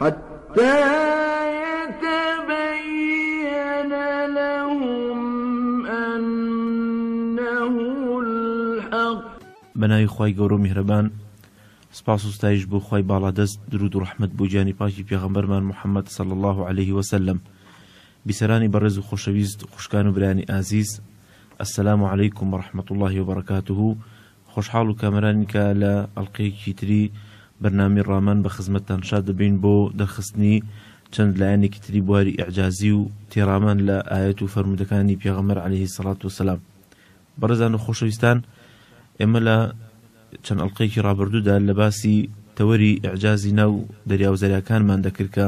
حتى يتبين لهم أنه الحق. بە ناوی خوای گەورە و میهرەبان سپاس و ستایش بۆ خوای باڵادەست درود و ڕەحمەت بۆ گیانی پاکی پێغەمبەرمان محمد صلی اللە علیه و سلم بیسەرانی بەڕێز و خۆشەویست خوشکان و برایانی ئازیز السلام علیکم و رحمت اللە و برکاته خۆشحاڵ و کامەرانی کە لە ئەڵقەیەکی تری بەرنامەی ڕامان بە خزمەتتان شاد دەبین بۆ دەرخستنی چەند لایەنێکی تری بواری ئیعجازی و تێڕامان لە ئایەت و فەرموودەکانی پێغەمبەر عەلەیه الصلوة والسلام بەڕێزان و خۆشەویستان ئێمە لە چەند ئەڵقەیەکی ڕابردوودا لە باسی تەوەری ئیعجازی ناو دەریاو زەریاکانمان دەکرد کە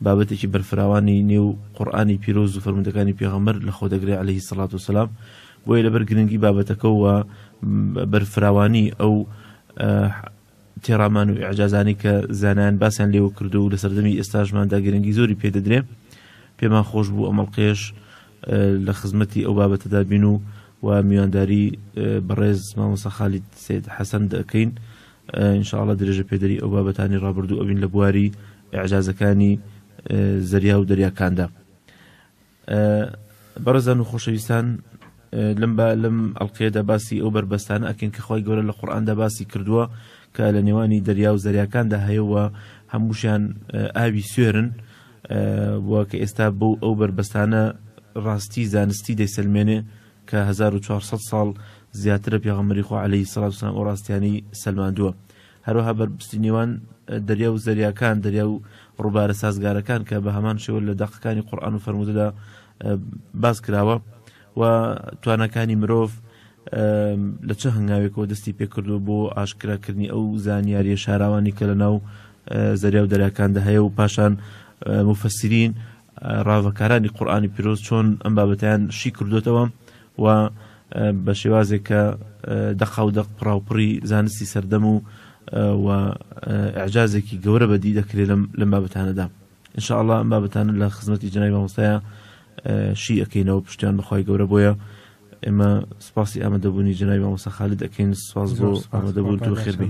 بابەتێکی بەرفراوانی نێو قورئانی پیرۆز و فەرموودەکانی پێغەمبەر لەخۆ دەگرێ عەلەیه الصلوة والسلام بۆیە لەبەر گرنگی بابەتەکە و بەرفراوانی ئەو تێڕامان و ئیعجازانەی کە زانایان باسیان لێوە کردو و لە سەردەمی ئێستاشماندا گرنگی زۆری پێدەدرێ پێمان خۆش بوو ئەمەڵقێش لە خزمەتی ئەو بابەتەدا بین و و میوانداری بەڕێز مامۆسا خالید سید حەسەن دەکەین انشاءله درێژە پێدەری ئەو بابەتانی ڕابردوو ئەوین لە بواری ئەعجازەکانی زەریا و دەریاکاندا بەڕێزان و خۆشەویستان لەم با لەم ئەڵلقەیەدا باسی ئەو بەربەستانە ئەکەین کە خۆی گەورە لە قورآاندا باسی کردووە کە لە نێوانی دەریا و زەریاکاندا هەیەوە هەمووشیان ئاوی سوێرن بووە کە ئێستا بۆ ئەو بەربەستانە ڕاستی زانستی دەیسلمێنێ کە 1400 ساڵ زیاترە پێغەمەری خۆ عليهەی سەڵاتسان ئەو ڕاستیانی سلماندووە هەروەها بەربستی نێوان دەریا و زەریاکان، دەریا و ڕووبارە سازگارەکان کە بە هەمان شێوە لە دەقەکانی قورئان و فەرموودەدا باس کراوە و تواناکانی مرۆڤ لە چه هەنگاوێکەوە دەستی پێکردووە بۆ ئاشکراکردنی ئەو زانیاریە شاراوانی کە لە ناو زەریا و دەریاکاندا هەیە و پاشان مفسرین ڕاڤەکارانی قورئانی پیرۆز چۆن ئەم بابەتەیان شی کردۆتەوە و بە شێوازێک کە دەقا و دەق پڕاوپڕی زانستی سەردەم و و ئەعجازێکی گەورە بەدی دەکرێت لەم بابەتانەدا انشاءله ئەم بابەتانە لە خزمەتی جنای مامۆستایە شی ئەەکەینەوە پشتیان بەخوای گەورە بۆیە ئێمە سپاسی ئامادەبوونی جنای مامۆسا خالد دەکەین سپاس بۆ ئامادەبوون تو خێربی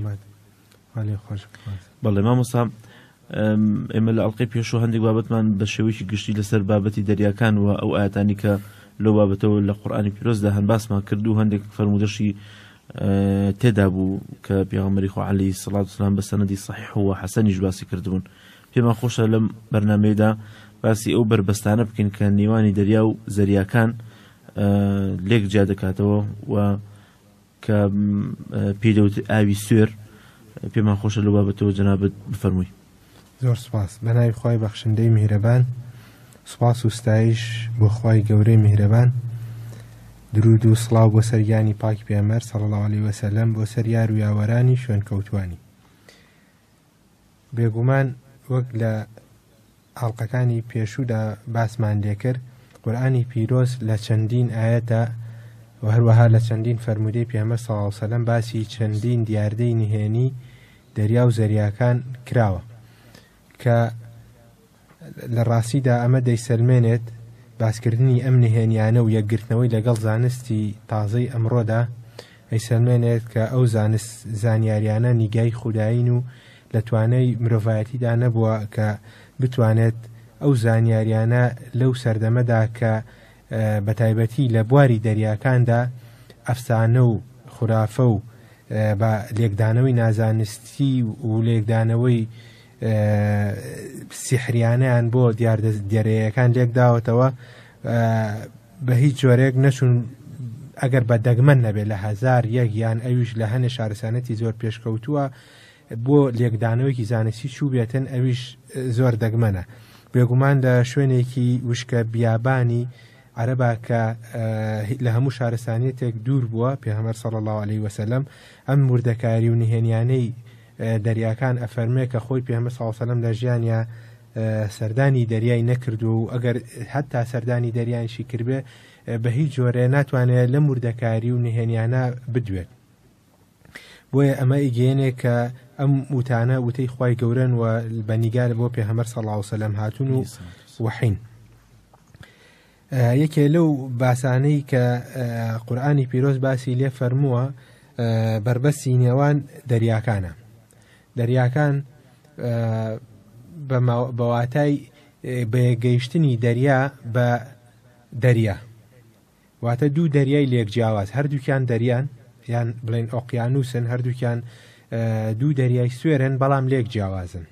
بەڵێ مامۆسا ئێمە لە ئەڵلقەی پێشوە هەندێک بابەتمان بە شێوەیەکی گشتی لەسەر بابەتی دەریاکان و ئەو ئاەتانی کە لە بابەتەوە لە قورآانی پیرۆزدا هەن باسمان کرد و هەندێک فرەرمودەشی تێدا بوو کە پیاغمەری خوعالی سڵات سلام بە سەنەدی صحیح و حەسەنیش باسی کردبوون پێمان خۆشە لەم بەرنمەیەدا باسی ئەو بەربەستانە بکەین کە نێوانی دەریا و زەریاکان لێک جیا دەکاتەوە و کە پێی دەوترێت ئاوی سوێر پێمان خۆشە لەو بابەتەوە جەنابەت بفەرمووی زۆر سپاس بەناوی خی بەخشندەی میهرەبان سپاس و ستایش بۆ خی گەورەی میهرەبان درود و سڵاو بۆ سەرگیانی پاکی پێمەر سەڵ لەوالی وەسەلەم بۆ سەر یار و یاوەرانی شوێن کەوتانی بێگومان وەک لە ئاڵلقەکانی پێشوودا باسمان لێکرد قورآانی پیرۆز لە چەندین ئاەتە و هەروەها لە چەندین فەرمودەی پێمە ساوسەلم باسی چەندین دیاردەی نهێنی دەریا و زەریاکان کراوە کە لە ڕاستیدا ئەمە دەیسەلمێنێت باسکردنی ئەم نهێنییانە و یەکگرتنەوەی لەگەڵ زانستی تازەی ئەمڕۆدا ئەیسەلمێنێت کە ئەو زانست زانیاریانە نیگای خودایین و لە توانای مرۆڤایەتیدا نەبووە کە بتوانێت ئەو زانیاریانە لەو سەردەمەدا کە بە تایبەتی لە بواری دەریاکاندا ئەفسانە و خورافە و بە لێکدانەوەی نازانستی و لێکدانەوەی سیحریانەیان بۆ دیاردە دێرەیەکان لێک داوەتەوە بە هیچ جۆرێک نەچون ئەگەر بە دەگمەن نەبێت لە هزار یەکیان ئەویش لە هەنێ شارسانەتی زۆر پێشکەوتووە بۆ لێکدانەوەیکی زانستی چوو بێتن ئەویش زۆر دەگمەنە بێگومان لە شوێنێکی وشکە بیابانی عەرەبا کە لە هەموو شارستانیتێک دوور بووە پێهمەر سەڵ الله عليه وسلم ئەم وردەکاری و نهێنیانەی دەریاکان ئەفەرمێ کە خۆی پێمە ساوسەلم لە ژیانیا سەردانی دەریای نەکردووە و ئەگەر حتا سەردانی دەریانشی کردێ بە هیچ جۆرێ ناتوانێت لە مردەکاری و نهێنیانە بدوێت بۆیە ئەمە ئیگەێنێ کە ئەم وتانە وتەی خی گەورن و بەنیگار بۆ پێ هەمەر سەڵاوسەلم هاتون و وحین یەکێ لەو باسانەی کە قورئانی پیرۆز باسی لێ فەرمووە بەربەسی نێوان دەریاکانە دەریاکان بەواتای بەیەگەیشتنی دەریا بە دەریا واتە دوو دەریای لێک جیاواز هەردووکیان دەریان یان بڵێن ئۆقیانوسن هەردووکیان دوو دەریای سوێرن بەڵام لێک جیاوازن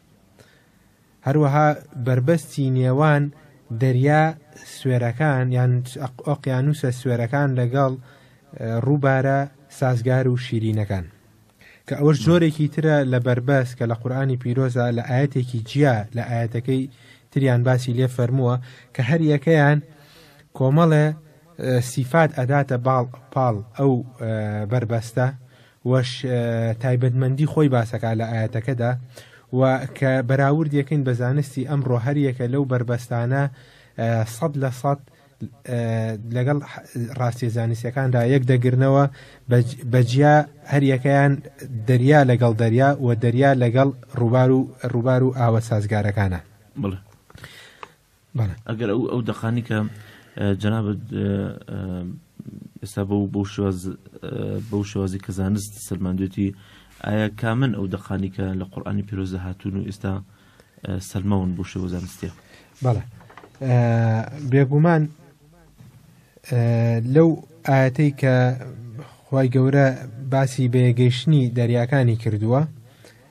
هەروەها بەربەستی نێوان دەریا سوێرەکان یان ئۆقیانووسە سوێرەکان لەگەڵ ڕووبارە سازگار و شیرینەکان کە ئەوەش جۆرێکی ترە لە بەربەس کە لە قورآانی پیرۆزە لە ئاەتێکی جیا لە ئاەتەکەی تریان باسی لێ فەرمووە کە هەر یەکەیان کۆمەڵێ سیفات ئەداتە باڵ پاڵ ئەو بەربەستە وەش تایبەتمەندی خۆی باسەکە لە ئاەتەکەدا و کە بەراورد یەکەین بە زانستی ئەمڕۆ هەریەکە لەو بەربەستانە سەد لە سەد لەگەڵ ڕاستی زانستەکاندا یەک دەگرنەوە بەجیا هەریەکەیان دەریا لەگەڵ دەریا و دەریا لەگەڵ ڕووبار و ڕووبار و ئاوە سازگارەکانە بڵێ ئەگەر ئەو ئەو دەقانی کە جەنابەت ئێستا بە بۆ شێواز بەو شێوازی کە زانست سەلماندێتی ئایا کامن ئەو دەقانی کە لە قورآانی پیرۆزە هاتوون و ئێستا سەلماون بۆ شێوە زانستە بەڵێ بێگومان لەو ئاەتەی کە خی گەورە باسی بەیەگەیشتنی دەریاکانی کردووە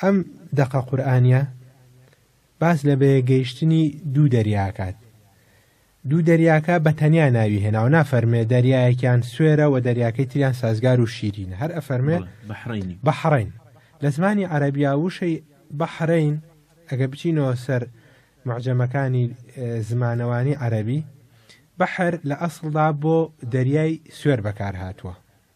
ئەم دەقە قورئانیە باس لە بەیەک گەیشتنی دوو دەریا ئەکات. دوو دەریاکە بە تەنیا ناوی هێناو نافەرمێ دەریایەکیان سوێرە و دەریاکەی تریان سازگار و شیرینە هەر ئەفەرمێ بەحڕین لە زمانی عەربیا وشەی بەحرین ئەگە بچینەوە سەر معجەمەکانی زمانەوانی عەربی بەحر لە ئەسڵدا بۆ دەریای سوێر بەکار هاتووە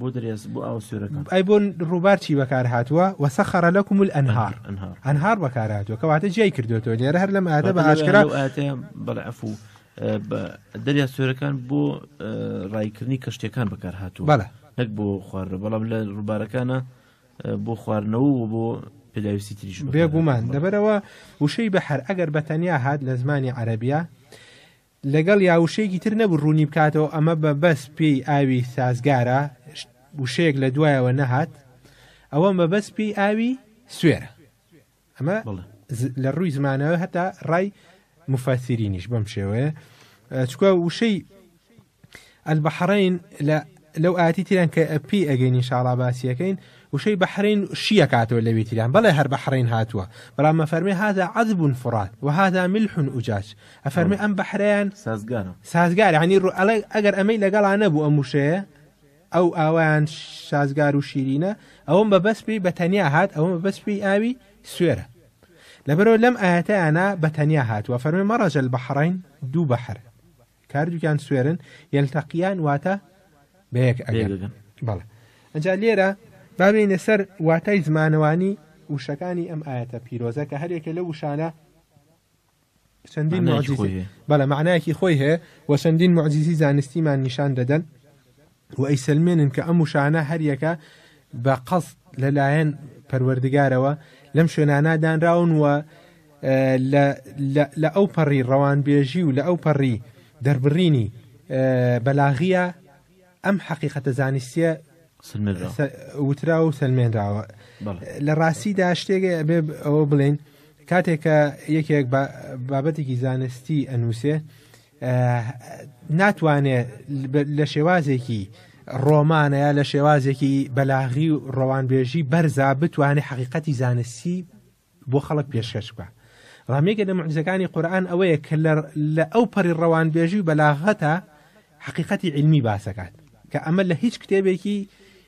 بۆ دەریا بۆ ئاو سوێرەکان ئەی بۆ ڕووبار چی بەکار هاتووە وەسەخەرە لەکم و ئەنهار ئەنهار بەکار هاتووە کەواتە جیای کردوێتەوە لێرە هەر لەم ئادە بە ئاشکرا بەڵعفو دەریا سوێرەکان بۆ ڕایکردنی کەشتەکان بەکار هاتووە بەڵە نەک بۆ خوارە بەڵام لە ڕووبارەکانە بۆ خواردنەوە و بۆ پێداویستی تریش بێگومان دەبەرەوە وشەی بەحر ئەگەر بەتەنیا هاات لە زمانی عەربیە لەگەڵ یا وشەیەکی تر نەبوو ڕوونی بکاتەوە ئەمە بە بەس پێی ئاوی سازگارە وشەیەک لە دوایەوە نەهات ئەوە مەبەست پێی ئاوی سوێرە ئەمە لە ڕووی زمانەوە هەتا ڕای مفەسیرینیش بەم شێوەیە چکە وشەی البحرین لە لەو ئاتی تیران کە پی ئەگەین انشاءڵا باسیەکەین وشەی بەحرین شیە کاتەوە لەوی تیران بەڵێ هەر بەحرین هاتووە بەڵام مەفەرمی هادا عذبون فرات و هادا ملحون ئوجاج ئەفەرمی ئەم بەحریان سازگارە سازگار هەنی ڕوو ئەڵێ ئەگەر ئەمەی لەگەڵا نەبوو ئەم وشەیە ئەو ئاوایان شازگار و شیرینە ئەوم بە بەس پێی بە تەنیا هات ئەوم بەس پێی ئاوی سوێرە لەبەرەوە لەم ئاەتەیانە بە تەنیا هاتووە فەرمی مەڕەجە بەحڕین دوو بەحر کاردوکیان سوێرن یەلتەقیان واتە بەیەک ئەگەن بەڵێ ئەجا لێرە بابێنە سەر واتای زمانەوانی وشەکانی ئەم ئاەتە پیرۆزە کە هەرێکە لە وشانە چەندین بەڵە معنایەکی خۆی هەیە و چەندین معزیزی زانستیمان نیشان دەدەن و ئەیسەلمێنن کە ئەم وشانە هەریەکە بە قەست لەلایەن پەروەردگارەوە لەم شوێنانە دانراون و لە ئەو پەڕی ڕەوانبێژی و لە ئەو پەڕی دەربڕینی بەلاغیە ئەم حەقیقەتە زانستیە وترا و سلمێنراوە لە ڕاستیدا شتێک بێ ئەوە بڵێن کاتێک کە یەکێک بابەتێکی زانستی ئەنووسێ ناتوانێ لە شێوازێکی ڕۆمانە یا لە شێوازێکی بەلاغی و ڕەوانبێژی بەرزا بتوانێت حقیقەتی زانستی بۆ خەڵک پێشکەش بە ڕامێکە لە معزەکانی قورآن ئەوەیە کە لە ئەو پەری ڕەوانبێژی و بەلاغەتە حقیقەتی علمی باسەکات کە ئەمە لە هیچ کتێبێکی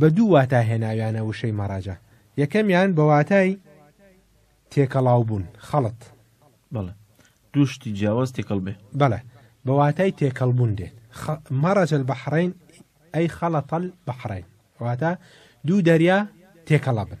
بە دوو واتا هێناویانە وشەی مەڕەجە، یەکەمیان بە واتای تێکەڵاوبوون، خەڵت. بەڵێ. دوو شتی جیاواز تێکەڵ بێ. بەڵێ. بە واتای تێکەڵبوون دێت. خ مەڕەجە البەحڕەین ئەی خەڵەتە البەحڕەین. واتە دوو دەریا تێکەڵە بن.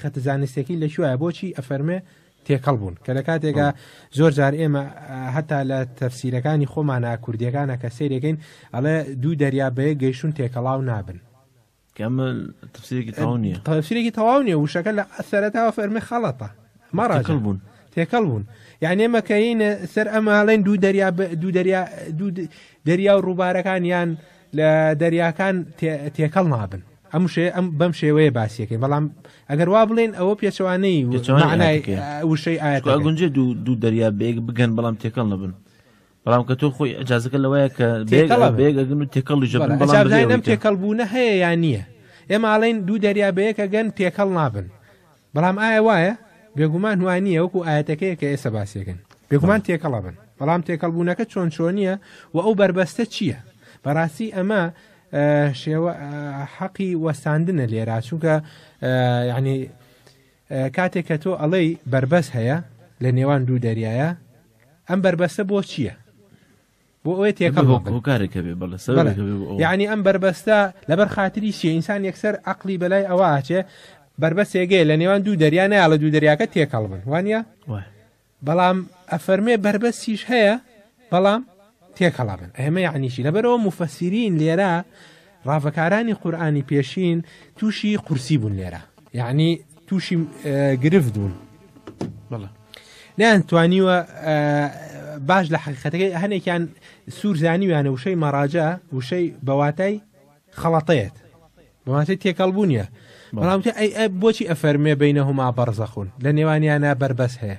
خەتە زانستیەکەی لە کوێە بۆچی ئەفەرمێ تێکەڵ بوون کە لە کاتێکا زۆر جار ئێمە هەتا لە تەفسیرەکانی خۆمانە کوردیەکانە کە سێرەکەین ئەڵێ دوو دەریا بەیە گەیشتون تێکەڵاو نابن تفسیرێکی تەواو نیە تفسیرێکی تەواو نیە وشەکە لە ئەسەرەتاوە فەرمی خەڵەتە مەڕاکەڵ بوون تێکەڵ بوون یعنی مەکەینە سەر ئەماڵێن دوو دەریا دوو دەریا دوو دەریا و ڕووبارەکان یان لە دەریاکان تێکەڵ نابن ئەم وشەیە ئەم بەم شێوەیە باسیەکەی بەڵام ئەگەر وا بڵێن ئەوە پێچەوانەی پێچەوانەی معنای ئاەتەکەیە. ئا، وشەی ئاەت چکە گونجێ دوو دوو دەریا بێگ بگەن بەڵام تێکەڵ نەبن بەڵام کە تۆ خۆی ئەجازەکە لەوەیە کە تێکەڵە بن. بێگەگن و تێکەڵی ژەبن بەڵام ئەجابداین بەغێوەی ئەم کە. تێکەڵبوونە هەیە یا نییە ئێمە ئاڵین دوو دەریا بەیەکە گەن تێکەڵ نابن بەڵام ئایا وایە؟ بێگومان وا نییە وەکو ئایەتەکەیە کە ئێستا باسیەکەن بێگومان تێکەڵە بن بەڵام تێکەڵبوونەکە چۆن چۆنیە و ئەو بەربەستە چییە؟ بەڕاستی ئەمە شێوە حەقی وەستاندنە لێرا چونکە یعنی کاتێک کە تۆ ئەڵەی بەربەست هەیە لە نێوان دوو دەریایە ئەم بەربەستە بۆ چییە؟ بۆ ئەوێ تێکەڵ یعنی ئەم بربەستە لەبەر خااتری شیە ئینسان یەکسەر عقلی بەلای ئەوە ئاچێ بربەست ێگەی لە نێوان دوو دەریا نایە لە دوو دەریاکە تێکەڵ بن وانە بەڵام ئەفەرمێ بربەستیش هەیە بەڵام تێکەڵا بن ئەمە یعنیشی لەبەرەوە مفەسیرین لێرە ڕاڤەکارانی قورئانی پێشین تووشی قورسی بوون لێرە یعنی تووشی گرفت بوون بڵە نیان توانیوە باش لە حقیقەتەکەی هەنێکیان سوور زانیویانە وشەی مەراجە وشەی بەواتای خەڵەتەیەت بەواتەی تێکەڵ بوو نیە بەڵام بۆچی ئەفەرمێ بینەهما بەرزەخون لە نێوانیانە بەربەس هەیە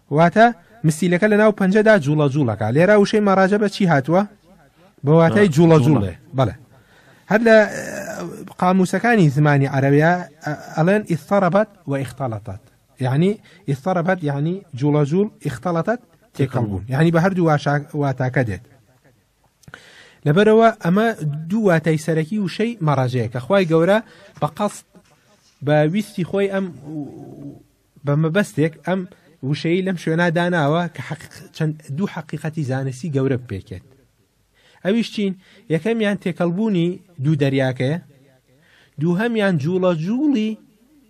واتە، مسیلەکە لە ناو پەنجەدا جوڵە جوڵ ئەکا. لێرە وشەی مەڕەجەبە چی هاتووە؟ بە واتای جوڵە جوڵێ. بەڵێ. هەر لە قامووسەکانی زمانی عەرەبیا ئەڵێن ئیزتەڕەبەت و ئیختەڵەتەت. یەعنی ئیزتەڕەبەت یەعنی جوڵە جوڵ، ئیختەڵەتەت تێکەڵ بوون. یەعنی بە هەردوو واتاکە دێت. لەبەرەوە ئەمە دوو واتای سەرەکی وشەی مەڕەجەیە کە خوای گەورە بە قەست بە ویستی خۆی ئەم بە مەبەستێک ئەم وشەیی لەم شوێنا داناوە کە چەند دوو حەقیقەتی زانستی گەورە بپێکێت ئەویش چین یەکەمیان تێکەڵبوونی دوو دەریاکەیە دووهەمیان جوڵە جوڵی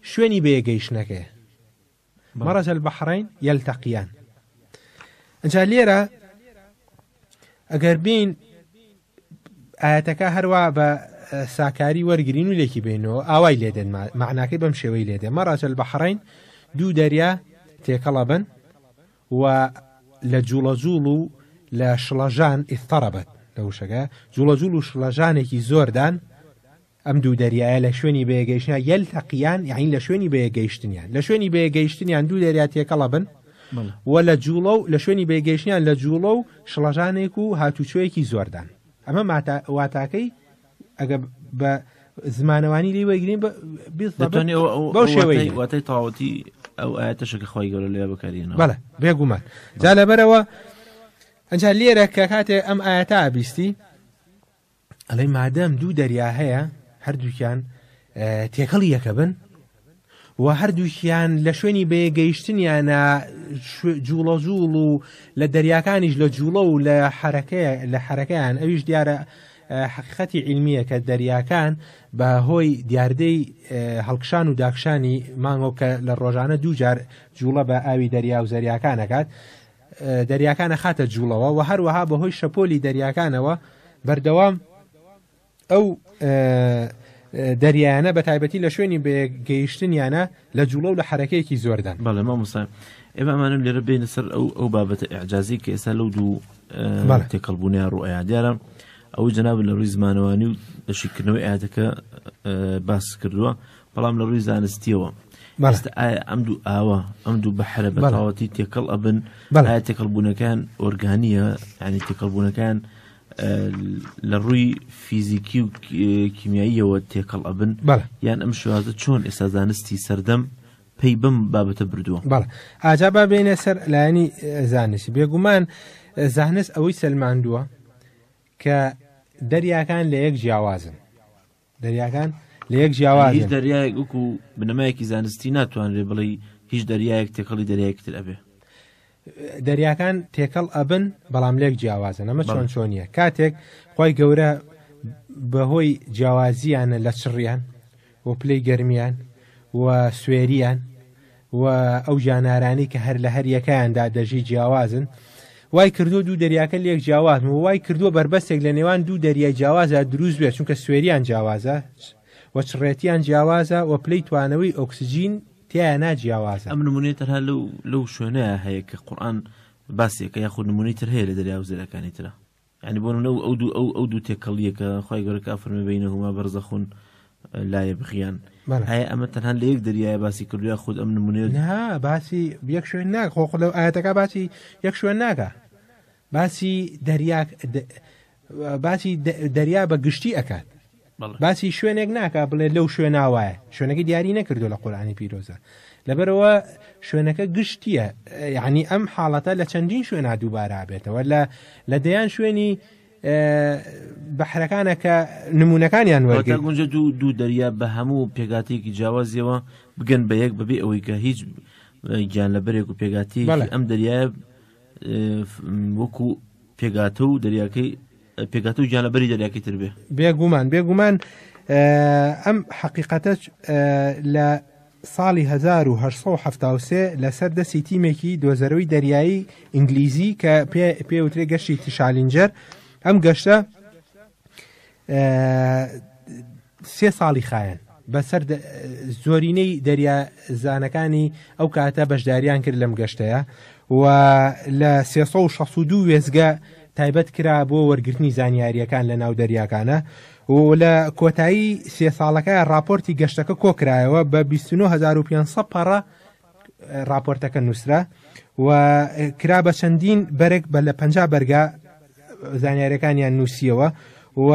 شوێنی بەیەگەیشتنەکەیە مەڕەجە بەحڕین یەلتەقییان ئەجا لێرە ئەگەر بین ئاەتەکە هەروە بە ساکاری وەرگین و لێکی بینەوە ئاوای لێدێن معناکەی بەم شێوەی لێدێ مەڕاجل بە حڕین دوو دەریا تێکەڵە بن و لە جوڵە جوڵ و لە شڵەژان ئیستەڕەبەت لە وشەکە جوڵە جوڵ و شڵەژانێکی زۆردان ئەم دوو دەریایە لە شوێنی بەیەگەیشتنیان یەلتەقیان یعنی لە شوێنی بەیەگەیشتنیان لە شوێنی بەیەگەیشتنیان دوو دەریا تێکەڵە بن و لە جوڵە و لە شوێنی بەیگەیشتنیان لە جوڵە و شڵەژانێک و هاتوچۆیەکی زۆردان ئەمە واتاکەی ئەگە بە زمانەوانی لی وەگرین بەو شێوەی واتای تاوەتی ئەو ئاەتەشەکە خۆی گەورە لێ بکارین بەڵە بێگومان جا لەبەرەوە ئەجا لێرە کە کاتێ ئەم ئاەتا بیستی ئەڵێ مادەم دوو دەریا هەیە هەردووکیان تێکەڵ یەکە بن و هەردووکیان لە شوێنی بەیەگەیشتنیانە جوڵە جوڵ و لە دەریاکانیش لە جوڵە و لە حرەکەیە لە حرەکەیان ئەویش دیارە حقیقەتی علمیە کە دەریاکان بە هۆی دیاردەی هەڵکشان و داکشانی مانگۆ کە لە ڕۆژانە دووجار جوڵە بە ئاوی دەریا و زەریاکانەکات دەریاکان ئەخاتە جووڵەوە و هەروەها بەهۆی شەپۆلی دەریاکانەوە بەردەوام ئەو دەریایانە بە تایبەتی لە شوێنی بەگەیشتنیانە لە جوڵە و لە حرەکەیەکی زۆردان بەڵێ مامۆسا ئێمە ئەمانم لێرە بینە سەر ئەو ئەو بابەتە ئەعجازی کە ئێستا لەو دوو تێکەڵبوونیان ڕوئەیە دیارە ئەوەی جناب لە ڕووی زمانەوانی و دەشیکردنەوەی ئاەتەکە باس کردووە بەڵام لە ڕووی زانستیەوە ئێستا ئایا ئەم دوو ئاوە ئەم دوو بەحرە بەڵاوەتی تێکەڵ ئەبن بەڵای تێکەڵبوونەکان ئۆرگانیە ینی تێکەڵبوونەکان لە ڕووی فیزیکی و کیمیاییەوە تێکەڵ ئەبن یان ئەم شوازە چۆن ئێستا زانستی سەردەم پێی بم بابەتە بردووە بەڵ ئاجا با بێنە سەر لایەنی زانستی بێگومان زانست ئەوەی سەلماندووە کە دەریاکان لە یەک جیاوازن دەریاکان لە یەک جیاواز هیچ دەریایەک وکو بنەمایەکی زانستی ناتوانرێ بڵێ هیچ دەریایەک تێکەڵی دەریایەکی تر ئەبێ دەریاکان تێکەڵ ئەبن بەڵام لێک جیاوازە نەمە چۆن چۆنیە کاتێک خی گەورە بەهۆی جیاوازیانە لە چڕیان و پلەی گەرمیان و سوێریان و ئەو ژانارانەی کە هەر لە هەر یەکەیاندا دەژی جیاوازن وای کردو دوو دەریاکە لێک جیاواز و وای کردووە بەربەستێک لە نێوان دوو دەریای جیاوازە دروست بێت چونکە سوێریان جیاوازە و چڕێتیان جیاوازە و پلەی توانەوەی ئۆکسسیجین تیایە ناجیاوازە ئەم نمونێت هەر لەو لەو شوێنەیە هەیە کە قورآن باسێکە یاخود نمونی تر هەیە لە دەریا و زێرەکانی ترە یانی بۆ نمونە ئەو دوو ئەو ئەو دوو تێکەڵیە کە خی گەورە کا فەرمی بینەهما بەرزەخون لایە بخیان هەیە ئەمە تەنها لە یەک دەریایە باسی کردویا خود ئەم نمونێ باسی یەک شوێن ناک خۆ لەو ئاەتەکە باسی یەک شوێن ناکە باسی دەریاک باسی دەریا بە گشتی ئەکات باسی شوێنێک ناکە بڵێ لەو شوێنا وایە شوێنەکە دیاری نەکردو لە قورآانی پیرۆزە لەبەرەوە شوێنەکە گشتیە یعنی ئەم حاڵەتە لە چەندین شوێنا دووبارا بێتەوە لە لە دەیان شوێنی بەحرەکانە کە نمونونەکانیان وەرگە گونجە دوو دوو دەریا بە هەموو پێگاتێکی جیاوازیەوە بگەن بە یەک بەبێ ئەوەی کە هیچ گیان لە بەرێک و پێگاتی ئەم دەریایە وەکو پێگاتە و دەریاکەی پێگاتە و گیانەبەری دەریاکەی تر بێ بێگومان بێگومان ئەم حەقیقەتە لە ساڵی 1970 لەسەر دەستی تیمێکی دۆزەرەوەی دەریایی ئینگلیزی کە پێوترێ گەشتی تشالینجەر ئەم گەشتە سێ ساڵی خایەن بەسەر زۆرینەی دەریا زانەکانی ئەو کاتە بەشداریان کرد لەم گەشتەیە و لە 1662 وێزگە تایبەت کرا بۆ وەرگرتنی زانیاریەکان لە ناو دەریاکانە و لە کۆتایی سێ ساڵەکە راپۆرتی گەشتەکە کۆکرایەوە بە 2500 پەڕە راپۆرتەکە نووسرا و کرا بە چەندین بەرێک بە لە پ بەرگا زانیارەکانیان نووسیەوە و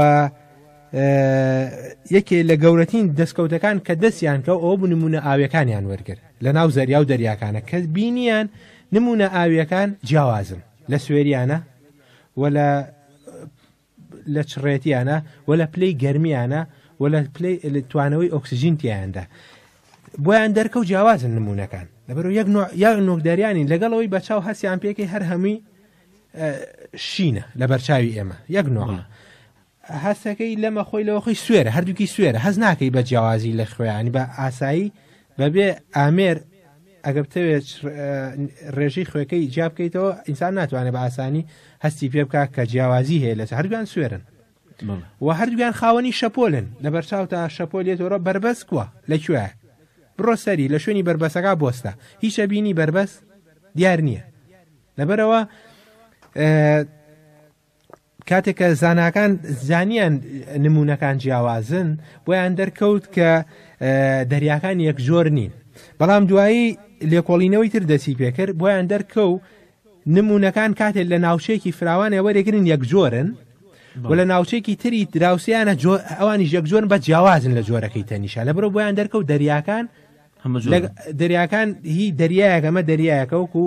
یەکێ لە گەورەتین دەستکەوتەکان کە دەستیان کە ئەو بنمونە ئاویەکانیان وەرگرت لە ناو زەریا و دەریاکانە کە بینیان نمونە ئاویەکان جیاوازن لە سوێریانە و لە لە چڕێتیانە و لە پلەی گەرمیانە و لە پلەی توانەوەی ئۆکسسیژین تیایاندا بۆیان دەرکە و جیاوازن نمونونەکان لەبەرو یەک یا نۆکداریانی لەگەڵەوەی بەچاو هەستیان پێکەی هەر هەمووی شینە لە بەرچاوی ئێمە یەک نۆمە هەستەکەی لەمە خۆی لەوە خۆی سوێرە هەردووکی سوێرە هەز ناکەی بە جیاوازی لە خوێیانی بە ئاسایی بەبێ ئامێر ئەگە بتەوێت ڕێژەی خوێەکەی جیا بکەیتەوە ئینسان ناتوانێت بە ئاسانی هەستی پێ بکات کە جیاوازی هەیە لەس هەردوان سوێرن و هەردوگان خاوەنی شەپۆلن لە بەرچاو تا شەپۆلێتەوە بەربەست کووە لەکوێ بڕۆ سەری لە شوێنی بربەسەکە بۆستە هیچە بینی بربەست دیار نییە لەبەرەوە کاتێک کە زاناکان زانیان نمونونەکان جیاوازن بۆیان دەرکەوت کە دەریاکان یەک جۆر نین بەڵام دوایی لێکۆڵینەوەی تر دەسی پێکرد بۆیان دەرکە و نمونونەکان کاتێک لە ناوچەیەکی فراوانە وەرەگرن یەک جۆرن و لە ناوچێکی تری دراوسیانە ئەوانی یەک جۆرن بە جیاوازن لە جۆرەکەی تەنیشە لە برۆ بۆیان دەرکە و دەریاکان دەریاکان هی دەریایەکەمە دەریایەکە وکو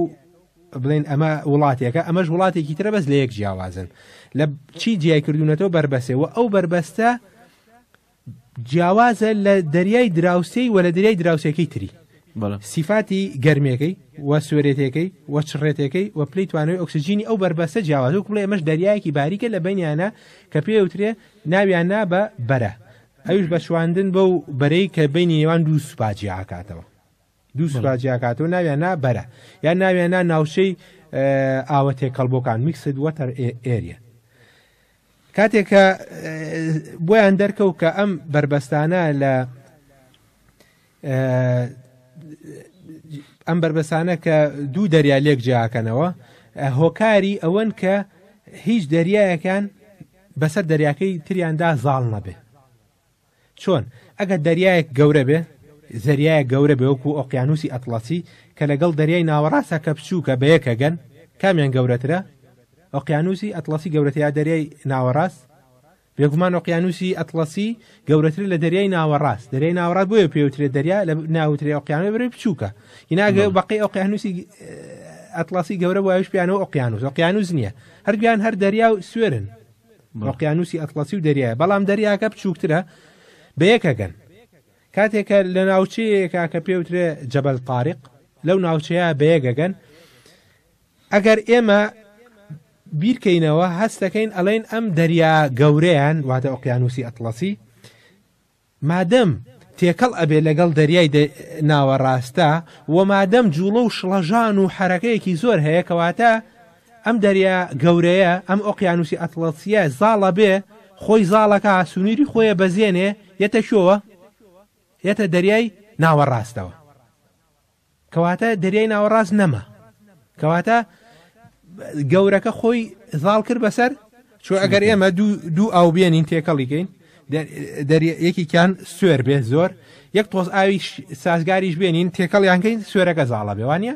بڵێن ئەمە وڵاتێکە ئەمەش وڵاتێکی ترە بەس لە یەک جیاوازن لە چی جیای کردوونەتەوە بربەسێ و ئەو بربەستە جیاوازە لە دەریای دراوسێی و لە دەریای دراوسەکەی تری سیفاتی گەرمەکەی و سوێرێتەکەی و چڕێتەکەی و پلی توانەوەی ئۆکسسیجینی ئەو بربەسە جیاواز و کوڵێ ئەمەش دەریایەکی باریکە لە بینیانە کە پێ وترێ ناویان نا بە بەرە ئەوش بە شواندن بەو بەرەی کە بینی نێوان دوو سوپاجیاکاتەوە دوو سوپا جیاکاتەوە ناویان نا بەرە یان ناویان نا ناوچەی ئاوە تێکەڵبۆکان میکسد وەتەر ئێریە کاتێک کە بۆیان دەرکەوت کە ئەم بربەستانە لە ئەم بربەسانە کە دوو دەریا لێک جیاکەنەوە هۆکاری ئەوەن کە هیچ دەریایەکان بەسەر دەریاکەی تریاندا زاڵ نەبێ چۆن؟ ئەگەر دەریایەک گەورە بێ، زەریایەک گەورە بێ وەکو ئۆقیانووسی ئەتڵەسی کە لەگەڵ دەریای ناوەڕاستە کە بچووکە بە یەک ئەگەن، کامیان گەورەترە؟ ئۆقیانووسی ئەتڵەسی گەورەترە یا دەریای ناوەڕاست؟ بێگومان ئۆقیانووسی ئەتڵەسی گەورەترە لە دەریای ناوەڕاست، دەریای ناوەڕاست بۆیە پێوترێت دەریا لە ناوترێ ئۆقیانووی بەرەی بچووکە، ئیناگە بەڵێ. بەقەی ئۆقیانووسی ئەتڵەسی گەورە بوایە ئەویش پێیانەوە ئۆقیانووس، ئۆقیانووس نییە، هەردووکیان هەر دەریا و سوێرن. ئۆقیانووسی ئەتڵەسی و دەریایە بەڵام دەریاکە بچووکترە بە یەکەگەن کاتێکە لە ناوچەیەکە کە پێوترێ جەبەل تاریق لەو ناوچەیە بەیەگەگەن ئەگەر ئێمە بیرکەینەوە هەستەکەین ئەڵێن ئەم دەریا گەورەیان واتە ئۆقیانوسی ئەتڵەسی مادەم تێکەڵ ئەبێ لەگەڵ دەریای دە ناوەڕاستە و مادەم جوڵە و شڵەژان و حرەکەیەکی زۆر هەیە کەواتە ئەم دەریا گەورەیە ئەم ئۆقیانوسی ئەتڵەسیە زاڵە بێ خۆی زاڵەکە سونیری خۆیە بەزێنێ یەتە شۆوە یەتە دەریای ناوەڕاستەوە کەواتە دەریای ناوەڕاست نەما کەواتە گەورەکە خۆی زاڵ کرد بەسەر چۆ ئەگەر ئێمە دوو ئاو بێنین تێکەڵیکەین یەکێکیان سوێر بێ زۆر یەک تۆز ئاوی سازگاریش بێنین تێکەڵیانکەین سوێرەکە زاڵە بێوانە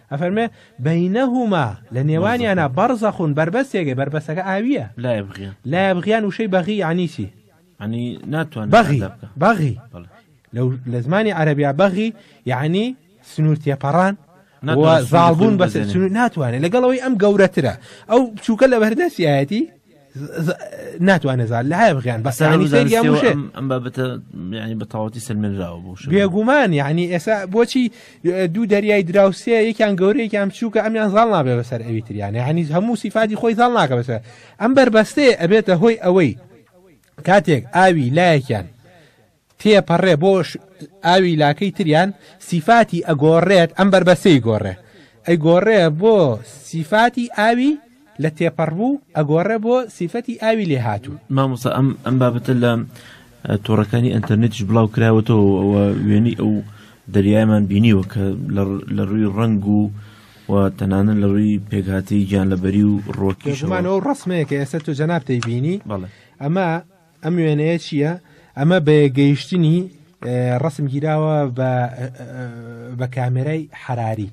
ئەفەرمێ، بەینەهوما، لە نێوانیانا، بەڕزەخون، بەربەستێکێ، بەربەستەکە ئاوییە. لا یەبغیان. لا یەبغیان وشەی بەغی یەعنی چی؟ یەعنی ناتوانێ بەغی، قەزا بکا. بەغی. بەڵێ. لەو لە زمانی عەرەبیا بەغی یەعنی سنوور تێپەڕان و ناتوانێ سنووری خۆی زاڵبوون بە بپەزێنێ. سنوور ناتوانێ لەگەڵ ئەوەی ئەم گەورەترە ئەو بچووکە لەبەردەستیایەتی ناتوانێت زار لە هەیە بغیان بە سەرانی سەریا وشێ ئەم بابەتە ینی بە تاوەتی سلمێنراوە بوو بێگومان یعنی ئێسا بۆچی دوو دەریای دراوسێ یەکیان گەورەیەکیان بچووکە ئەمیان زاڵ نابێ بەسەر ئەوی تریانە هەنی هەموو سیفاتی خۆی زاڵ ناکە بەسەر ئەم بەربەستێ ئەبێتە هۆی ئەوەی کاتێک ئاوی لایەکیان تێپەڕێ بۆ ئاوی لاکەی تریان سیفاتی ئەگۆڕێت ئەم بەربەسەی گۆڕێ ئەیگۆڕێ بۆ سیفاتی ئاوی لە تێپەڕبوو ئەگۆڕێ بۆ سیفەتی ئاوی لێ هاتوو مامۆسا ئەم ئەم بابەتە لە تۆڕەکانی ئەتەرنێتیش بڵاو کراوەتەوە ئەوە وێنی ئەو دەریایمان بینیوە کە لە ڕووی ڕنگ و و تەنانە لە ڕووی پێکهاتەی گیان لەبەری و ڕۆکیشمانەوە ڕسمەیە کە ئێستا تو جەنابتەی بینی بەڵێ ئەمە ئەم وێنەیە چییە؟ ئەمە بە گەیشتنی ڕسم گیراوە بە کامێرای حراری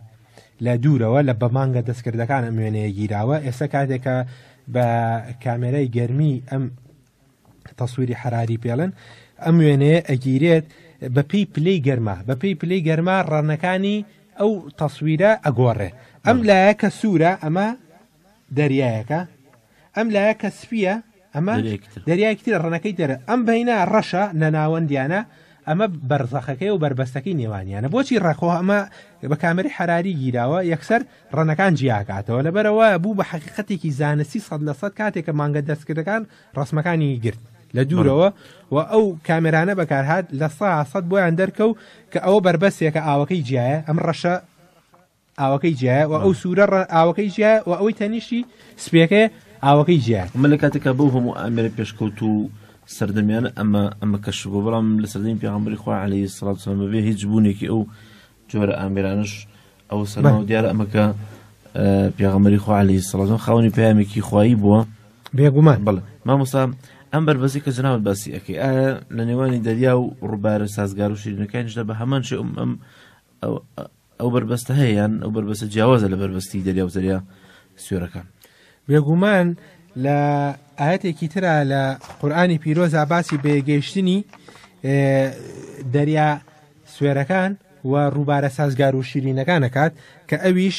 لە دوورەوە لە بەمانگە دەستکردەکان ئەم وێنەیە گیراوە ئێستا کاتێکە بە کامێرای گەرمی ئەم تەسووری حراری پێڵێن ئەم وێنەیە ئەگیرێت بەپی پلی گەرما بەپی پلی گەرما ڕەنەکانی ئەو تەسویرە ئەگۆڕێ ئەم لایەکە سوورە ئەمە دەریایەکە ئەم لایە کە سپیە ئەمە دەریایەکی ترە ڕەنەکەی دەرە ئەم بەینا ڕەشە لە ناوەندیانە ئەمە بەرزەخەکەی و بربەستەکەی نێوانیانە بۆچی ڕەخۆ ئەمە بە کامری حراری گیراوە یەکسەر ڕەنەکان جیاکاتەوە لەبەرەوە بوو بە حقیقەتێکی زانستی سەد لە سەد کاتێکە مانگە دەستکردەکان ڕسمەکانی گرت لە دوورەوە و ئەو کامێرانە بەکارهات لە سا سەد بۆیان دەرکەو کە ئەوە بربەسێکە ئاوەکەی جیایە ئەم ڕەشە ئاوەکەی جیایە و ئەو سوورە ڕە ئاوەکەی جیایە و ئەوەی تەنیشتی سپێکەیە ئاوەکەی جیایە من لە کاتێکا بەو هەموو ئامێرە پێشکەوت و سەردەمیانە ئەمە ئەمە کەش بۆ بەڵام لە سەردەمی پێغمبەری خوا عليه سڵات سلام بێ هیچ بوونێکی ئەو جۆرە ئامێرانش ئەو سەرما و دیارە ئەمەکە پێغمبەری خوا عليه سڵات خاونی پامێکی خوایی بووە بێگومان بڵێ مامۆستا ئەم بەربەزی کە جناوت باسی ئەەکەی ئایا لە نێوانی دەریا و ڕووبارە سازگار و شیرینەکانیشدا بە هەمان شێ ئەم ئەم ئەو بەربەستە هەیە یان ئەو بەربەستە جیاوازە لە بەربەستی دەریا و زەریا سوێرەکان بێگومان لە ئاەتێکی تررا لە قورآانی پیرۆزا باسی بێگەیشتنی دەریا سوێرەکان و ڕووبارە سازگار و شیرینەکان دەکات کە ئەویش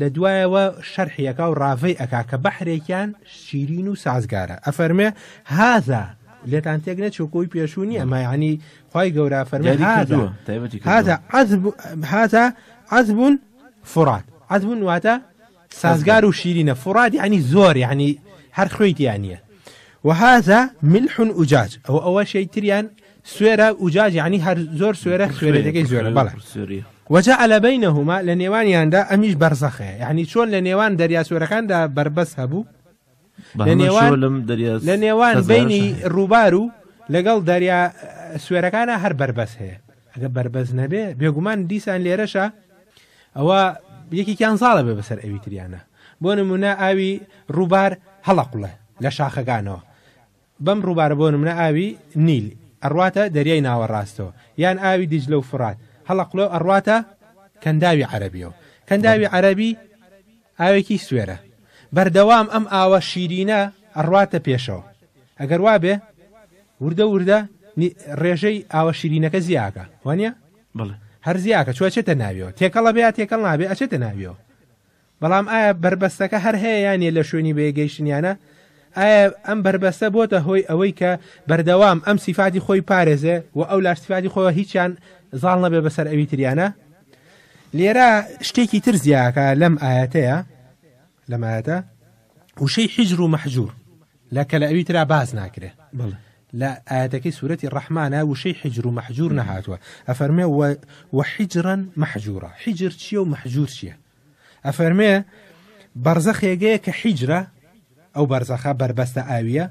لە دوایەوە شەرحی ئەکا و ڕاڤەی ئەکا کە بەحرێکیان شیرین و سازگارە ئەفەرمێ هاذا لێتان تێک نەچوو کۆی پێشوو نییە ما یعنی خی گەورە فەرمی یاری هاذا کردووە تایبەتی کردووە. هذا عذب هذا عذب فرات عذب واتە سازگار و شیرینە فرات یعنی زۆر یعنی هەر خوێی تیان نییە وهذا ملح ئوجاج ئەو ئەوە شەی تریان سوێرە ئوجاج یعنی هەر زۆر سوێرە سوێرەکەی زۆرە بەڵێ وەجا ئەلە بینەهما لە نێوانیاندا ئەمیش بەرزەخێ یعنی چۆن لە نێوان دەریا سوێرەکاندا بربەس هەبوو لە نێوان لە نێوان بینی ڕووبار و لەگەڵ دەریا سوێرەکانە هەر بربەس هەیە ئەگە بربەس نەبێ بێگومان دیسان لێرەشە ئەوە یەکێکیان زاڵە بێ بەسەر ئەوی تریانە بۆ نمونە ئاوی ڕووبار هەڵقڵێ لە شاخەکانەوە بەم ڕووبارە بۆ نمونە ئاوی، نیل، ئەڕواتە دەریای ناوەڕاستەوە، یان ئاوی دیجلە و فوڕات هەڵەقڵێ و ئەڕواتە کەنداوی عەرەبیەوە، کەنداوی عەرەبی ئاوێکی سوێرە بەردەوام ئەم ئاوە شیرینە ئەڕواتە پێشەوە ئەگەر وابێ وردە وردە نی ڕێژەی ئاوە شیرینەکە زیاکە وانیە؟ بەڵێ. هەر زیاکە چۆ ئەچێتە ناویەوە تێکەڵ ئەبێ یا تێکەڵ نابێ ئەچێتە ناویەوە. بەڵام ئایا بەربەستەکە هەر هەیە یان نیە لە شوێنی بەیەک گەیشتنیانە؟ ئایا ئەم بەربەستە بۆتە هۆی ئەوەی کە بەردەوام ئەم سیفاتی خۆی بپارێزێ و ئەولاش سیفاتی خۆی هیچیان زاڵ نەبێ بەسەر ئەوی تریانە؟ لێرە شتێکی تر زیاکە لەم ئایەتەیە لەم ئایەتە وشەی حیجر و مەحجور لە کە لە ئەوی ترا باز ناکرێ بڵێ لە ئاەتەکەی سوورەتی ڕەحمانە وشەی حجر و مەحجور نەهاتوە ئەفەرمێ وە حیجرن مەحجورە حیجر چیە و مەحجور چیە ئەفەرمێ، بەرزەخ ێگەیەکە حیجرە، ئەو بەرزەخە بەربەستە ئاوییە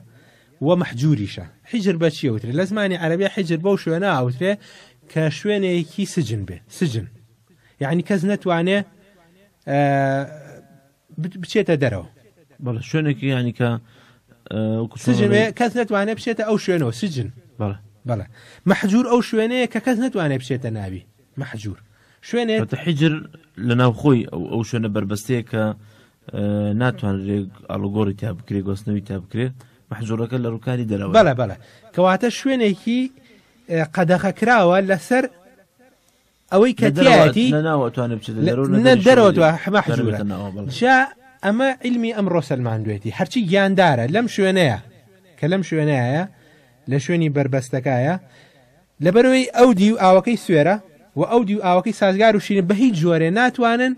و مەحجووریشە. حیجر بە چی ئەوترێ؟ لە زمانی عەرەبیا حیجر بەو شوێنە ئەوترێ کە شوێنێکی سجن بێ، سجن. یعنی کەس نەتوانێ بچێتە دەرەوە. بەڵێ شوێنێکی یانی کە سجن کەس نەتوانێ بچێتە ئەو شوێنەوە سجن. بەڵێ بەڵێ مەحجور ئەو شوێنەیە کە کەس نەتوانێ بچێتە ناوی. مەحجوور، شوێنێ. حیجر لە ناوخۆی ئەو ئەو شوێنە بەربەستەیە کە ناتوانرێ ئاڵوگۆڕی تیا بکرێ گۆستنەوی تا بکرێ مەحجوورەکە لە ڕووکاری دەرەوە بەڵە بەڵە کەواتە شوێنێکی قەدەخە کراوە لەسەر ئەوەی کە دیاتی دەرەوە حمە حجورە جا ئەمە علمی ئەم ڕۆسەلمان دوێتی هەرچی گیاندارە لەم شوێنەیە کە لەم شوێنەیە لە شوێنی بربەستەکایە لەبەرئەوەی ئەو دیو ئاوەکەی سوێرە و ئەو دیو ئاوەکەی سازگار و شیرین بەهیچ جۆرێ ناتوانن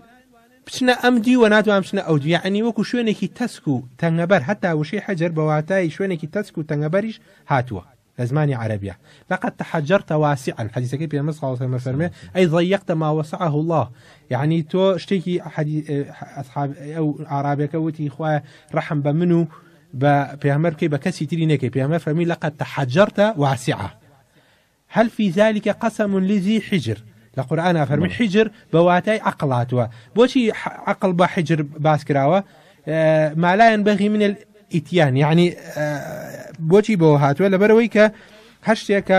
بچنە ئەم دیو و ناتوان بچنە ئەو دیو یەعنی وەکو شوێنێکی تەسک و تەنگەبەر هەتا وشەی حجر بەواتای شوێنێکی تەسک و تەنگەبەریش هاتووە لەزمانی عەرەبیا لقد تحجرت واسعا حەدیسەکەی پێمبەر صلی اللە علیه و فەرمێ ئەی ضیقت ما وسعه الله یعنی تۆ شتێکی حەدی ئەصحاب ئەو ئارابەکە وتی خوایە رەحم بە من و بە پێامەر بکەی بە کەسی تری نەکەی پێامەر فەرمی لە قەت تەحەجرتە واسعە هەل فی ذلك قسم لذی حجر لە قورآنا فەرمی حجر بە واتای عقلاتوە بۆچی عقل بە حجر باس کراوە مالایەن بەغی من ئیتیان یعنی بۆچی بەوە هاتووە لەبەرەوەی کە هەر شتێکە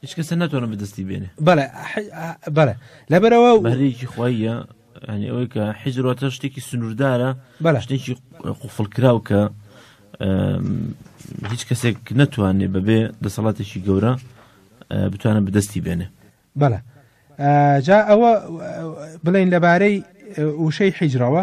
هیچ کەسە ناتوانم بەدەستی بێنێ بەڵێ بەڵێ لەبەرەوە بەرێکی خۆیە ینی ئەوەی کە حیجرۆتە شتێکی سنووردارە بەە شتێکی قوفڵکراو کە هیچ کەسێک نەتوانێ بەبێ دەسەڵاتێکی گەورە بتوانە بدەستی بێنێ بەە جا ئەوە بڵین لەبارەی وشەی حیجرەوە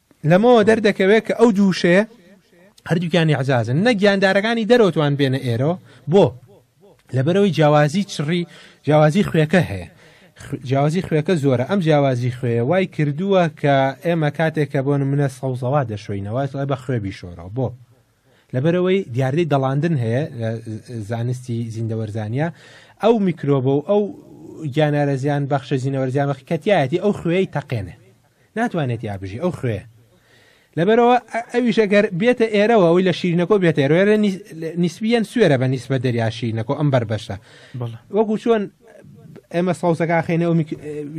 لەمەوە دەردەکەوێت کە ئەو دوو وشەیە هەردووکیان ئەعزازن نە گیاندارەکانی دەرەوەتوان بێنە ئێرەوە بۆ لەبەرەوەی جیاوازی چڕی جیاوازی خوێەکە هەیە جیاوازی خوێەکە زۆرە ئەم جیاوازی خوێ وای کردووە کە ئێمە کاتێک کە بۆن منە سەوزەوا دەشۆینەوە بە خوێ بیشۆرەوە بۆ لەبەرئەوەی دیاردەی دەڵاندن هەیە لە زانستی زیندەوەرزانیا ئەو میکرۆبە و ئەو گیانارە زیان بەخشە زیینەوەرزیان بەخی کەتیایەتی ئەو خوێی تەقێنێ ناتوانێت یا بژی ئەو خوێ لەبەرەوە ئەویش ئەگەر بێتە ئێرەوە ئەوی لە شیرینەکۆ بێت ئێرە نیسبیەن سوێرە بە نیسبە دەریاشینەکۆ ئەم بەر بەشە وەکو چۆن ئێمە سەوزەکە خێنە و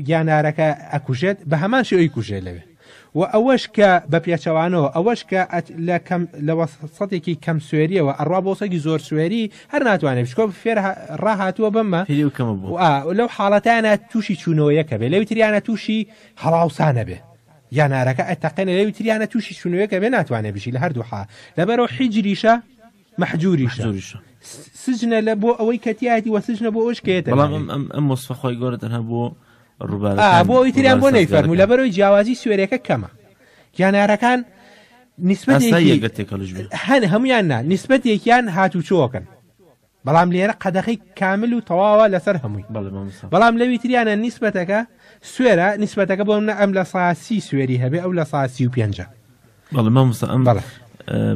گیانارەکە ئەکوژێت بە هەمان شێوەی کوژێ لەوێ وە ئەوەش کە بە پێچەوانەوە ئەوەش کە لە کەم لە وەسەتێکی کەم سوێریەوە ئەڕوا بۆ سەگی زۆر سوێری هەر ناتوانێت بچکۆ فێر ڕاهاتووە بەمە لەو حاڵەتیانە تووشی چوونەوەیەکە بێ لەوی تریانە تووشی هەڵاوسانە بێ یانارەکە ئەتەقێنە لەوی تریانە تووشی چوونەوەیەکە بێ ناتوانێت بشی لە هەردوو حا لەبەرەوە حیجریشە محجوریشە سجنە لە بۆ ئەوەی کەتیایەتی وە سجنە بۆ ئەوش کێتە بەڵام ئەم مۆسفە خۆی گۆرە تەنها بۆ بۆ ئەوی تریان بۆ نەی فەرمو لە بەرەوەی جیاوازی سوێرەکە کەمە گیانارەکان هەن هەمویان نا نسبەت یەکیان هاتوچۆکەن بەڵام لێرە قەدەخی کامل و تەواوە لەسەر هەمووی بەڵام لەوی تریانە نیسبەتەکە سوێرە نیسبەتەکە بۆم نە ئەم لە ساسی سوێری هەبێ ئەو لە ساسی و پێنجە بەڵمەمسە ئەم بەڵ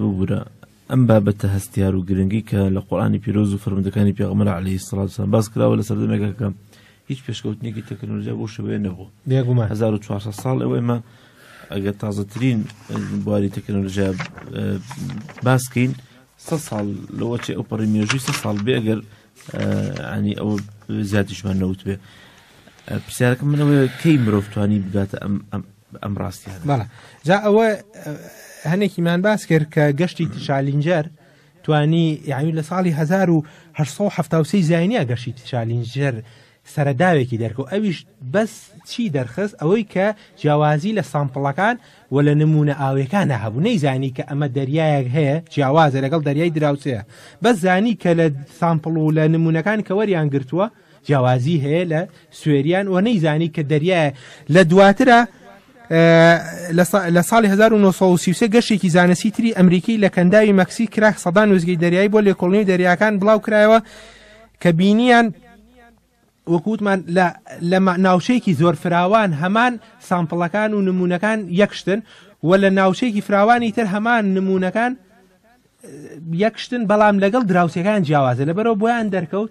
ببوورە ئەم بابەتە هەستیار و گرنگەی کە لە قورئانی پیرۆز و فەرمودەکانی پێغەمبەر عەلەیهی سڵاو وسەلام باس کراوە لە سەردەمێکە کە هیچ پێشکەوتنێکی تەکنۆلۆژیا بۆ شەوەیە نەبوو بێگومان 1400 ساڵ ئەوە ئێمە ئەگەر تازەترین بواری تەکنۆلۆژیا باسکەین سە ساڵ لەوە چێ ئەو پەڕی مێژووی سە ساڵ بێ ئەگەر ئەنی ئەوە زیاتیشمان نەوت بێ پرسیارەکە منەوەی کەی مرۆڤ توانی بگاتە ئەم بە ئەم ڕاستیانە بەڵێ جا ئەوە هەنێکیمان باس کرد کە گەشتی تشالینجەر توانی یعنی لە ساڵی 1970 زیانیا گەشتی تشالینجەر سەرداوێکی دەرکەوت ئەویش بەس چی دەرخست ئەوەی کە جیاوازی لە سامپڵەکان و لە نمونە ئاوێکانە هەبوو نەیزانی کە ئەمە دەریایەک هەیە جیاوازە لەگەڵ دەریای دراوسەیە بەس زانی کە لە سامپڵ و لە نمونونەکان کە وەریان گرتووە جیاوازی هەیە لە سوێریان و نەیزانی کە دەریایە لە دواترە لە ساڵی 1930 گەشتێکی زانستی تری ئەمریکی لە کەنداوی مەکسی کراک سەدان وزگی دەریایی بۆ لێکۆڵنی دەریاکان بڵاو کرایەوە کە بینیان وەکووتمان لە ناوچەیەکی زۆر فراوان هەمان سامپڵەکان و نمونونەکان یەکشتن و لە ناوچەیەکی فراوانی تر هەمان نمونونەکان یەک شتن بەڵام لەگەڵ دراوسەکان جیاوازە لەبەرەوە بۆیان دەرکەوت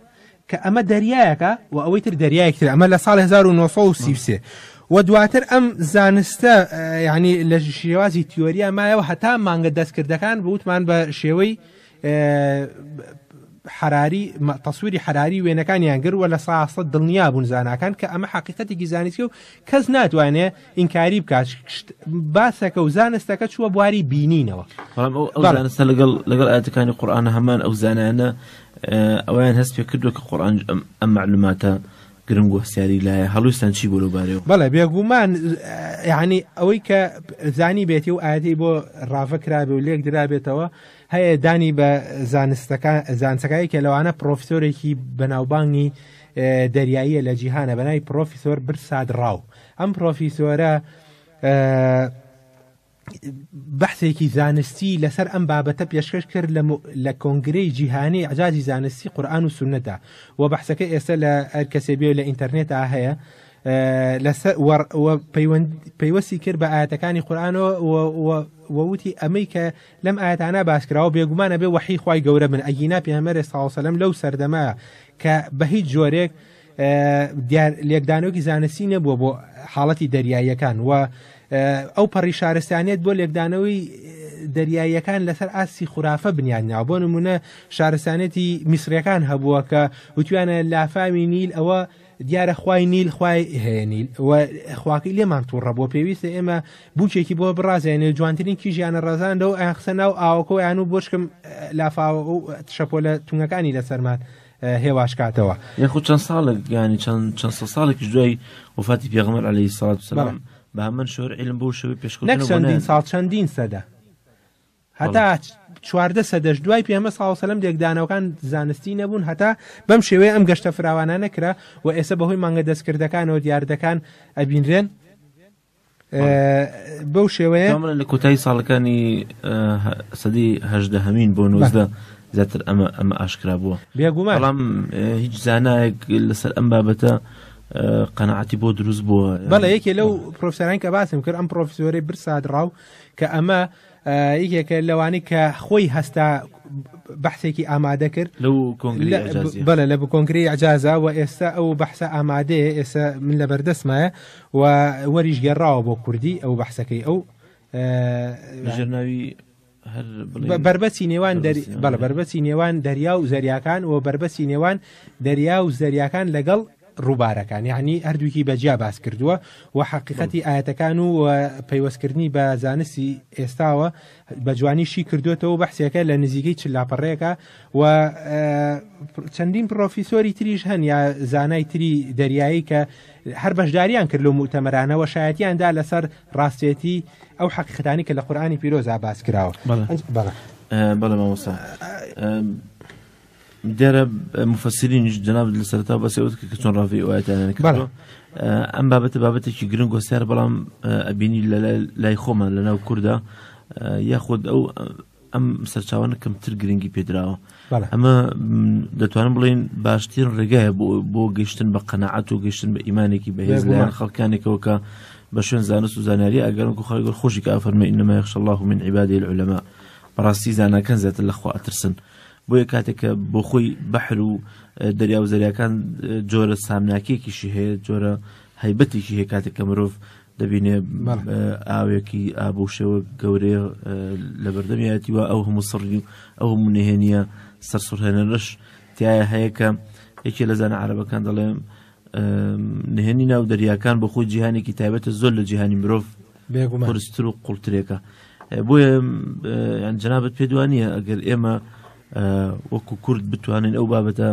کە ئەمە دەریایەکە و ئەوەی تر دەریایەکتر ئەمە لە ساڵ 1930 و دواتر ئەم زانستە ینی لە شێوازی تیۆریا مایەوە هەتا مانگە دەستکردەکان بوتمان بە شێوەی حراری تەسووری حراری وێنەکانیان گرد وە لە ساسە دڵنیا بوون زانکان کە ئەمە حقیقەتێکی زانستی و کەس ناتوانێت ئینکاری بکات باسەکە و زانستەکە چووە بواری بینینەوە زانستە لەگەڵ لەگەڵ ئاتەکانی قورآان هەمان ئەو زانانە ئەویان هەست پێ کردو کە قورآان ئەم معلوماتە گرنگ و هەستیاری لایە هەڵویستان چی بۆ لەبارەوە بەڵێ بێگومان یعنی ئەوەی کە زانی بێتی و ئاەتی بۆ ڕاڤە کرابێ و لێک درابێتەوە هەیە دانی بە زانستەکان زانسەکانی کە لەوانە پرۆفسۆرێکی بەناوبانگی دەریاییە لە جیهانە بەنای پرۆفیسۆر برساد ڕاو ئەم پڕۆفیسۆرە بەحسێکی زانستی لەسەر ئەم بابەتە پێشکەش کرد لە کۆنگرەی جیهانی عجاجی زانستی قورآان و سونەدا و بەحسەکە ئێستا لە ئەرکەسێ بێ لە ئینتەرنێتا هەیە پەیوەستی کرد بە ئاەتەکانی قورآانەوە ووتی ئەمەی کە لەم ئاەتانە باسکراوە بێگومانە بێ وحی خی گەورە من ئەگینا پێمەرە ساوسەلم لەو سەردەما کە بە هیچ جۆرێک دیار لێکدانەوەی زانستی نەبووە بۆ حاڵەتی دەریاییەکان و ئەو پەڕی شارستانیت بۆ لێکدانەوەی دەریاییەکان لەسەر ئاستی خورافە بنیادناوە بۆ نمونە شارستانێتی میسرەکان هەبووە کە وتویانە لافاوی نیل ئەوە دیارە خوای نیل خوای هەیە نیل خواکەی لێمان تووڕە بۆ پێویستە ئێمە بچێکی بۆ بڕازێنێ جوانترین کیژیانە ڕزانەوە ئەیان قسە ناو ئاوەکەیان و بۆشکم لافاوە و شەپۆلە تونگەکانی لەسەرمان هێواش کاتەوە یخود چەند ساڵێک گیانی چەند چەند سە ساڵێکیش دوای وفاتی پێغمەر عليه ساات سلام بە من شۆر علم بۆ شەوەی پێشکە چەندین ساڵ چەندین سەدە هەتا چواردە سەدەش دوای پێمە ساوسلم لێکدانەوەکان زانستی نەبوون هەتا بەم شێوەیە ئەم گەشتە فراوانە نەکرا و ئێستا بەهۆی مانگە دەستکردەکانەوە دیاردەکان ئەبینرێن بەو شێوەیە ئەمە لە کۆتایی ساڵەکانی سەدی هەژدە هەمین بۆ نوزدە زیاتر ئەمە ئەمە ئاشکرا بووە بێگومان بەڵام هیچ زانایەک لەسەر ئەم بابەتە قەنەعاتی بۆ دروست بووە بەڵێ یەکێ لەو پرۆفسەران کە باسم کرد ئەم پرۆفسۆری برسادراو کە ئەمە یەکێکە لەوانی کە خۆی هەستا بەحسێکی ئامادە کرد لەو بەە لە بکۆنگری ئەجازە و ئێستا ئەو بەحسە ئامادەیە ئێستا من لە بەردەستمایە و وەریش گەڕاوە بۆ کوردی ئەو بەحسەکەی ئەو ژێرناوی بربەچی نێوان بەڵە بربەچی نێوان دەریا و زەریاکان و بربەچی نێوان دەریا و زەریاکان لەگەڵ ڕووبارەکان یەعنی هەردووکی بە جیا باس کردووە و حەقیقەتی ئاەتەکان و پەیوەستکردنی بە زانستی ئێستاوە بە جوانی شی کردوێتەوە بەحسێکە لە نزیکەی چ لاپەڕێکە و چەندین پرۆفیسۆری تریش هەن یا زانای تری دەریایی کە هەر بەشداریان کرد لە موتەمەرانەوە شایەتیاندا لەسەر ڕاستێتی ئەو حەقیقەتانی کە لە قورآانی پیرۆزا باس کراوە بەڵێ مامۆسا دیارە مفسرینیش جنابت لە سەرتا بەسێ وت کە چۆن ڕاوی ئەوەتیانەکە کردو ئەم بابەتە بابەتێکی گرنگ وەسیار بەڵام ئەبینی لە لای خۆمان لە ناو کووردا یاخود ئەو ئەم سەرچاوانە کەمتر گرنگی پێدراوە ئەمە دەتوانم بڵین باشتر ڕێگایە بۆ گەشتن بە قەنەعات و گەشتن بە ئیمانێکی بەهێز لە خەڵکانێکەوە کە بە شوێن زانست و زانیاری ئەگەرم و خەڵگەر خۆشی کافەرمە ئینەمە یخش الله من عیبادی العلماء بەڕاستی زانەکەن زیاتر لەخوا ئەترسن بۆیە کاتێک کە بۆ خۆی بەحر و دەریا و زەریاکان جۆرە سامناکێکیشی هەیە جۆرە هەیبەتێکی هەیە کاتێک کە مرۆڤ دەبینێ ئاوێکی ئابووشەوە گەورەیە لە بەردەمیەتی و ئەو هەموو سڕی و ئەو منهێنە سەرسوڕهێنەرش تایە هەیە کە یەکێ لە زانە عربەکان دەڵێم نهێنی ناو دەریاکان بۆ خۆی جیهانێکی تایبەتە زۆر لە جیهانی مرۆڤ قرستر و قوڵترێکە بۆیە جنابەت پێدوانە ئەگەر ئێمە وەکو کورد بتوانین ئەو بابەتە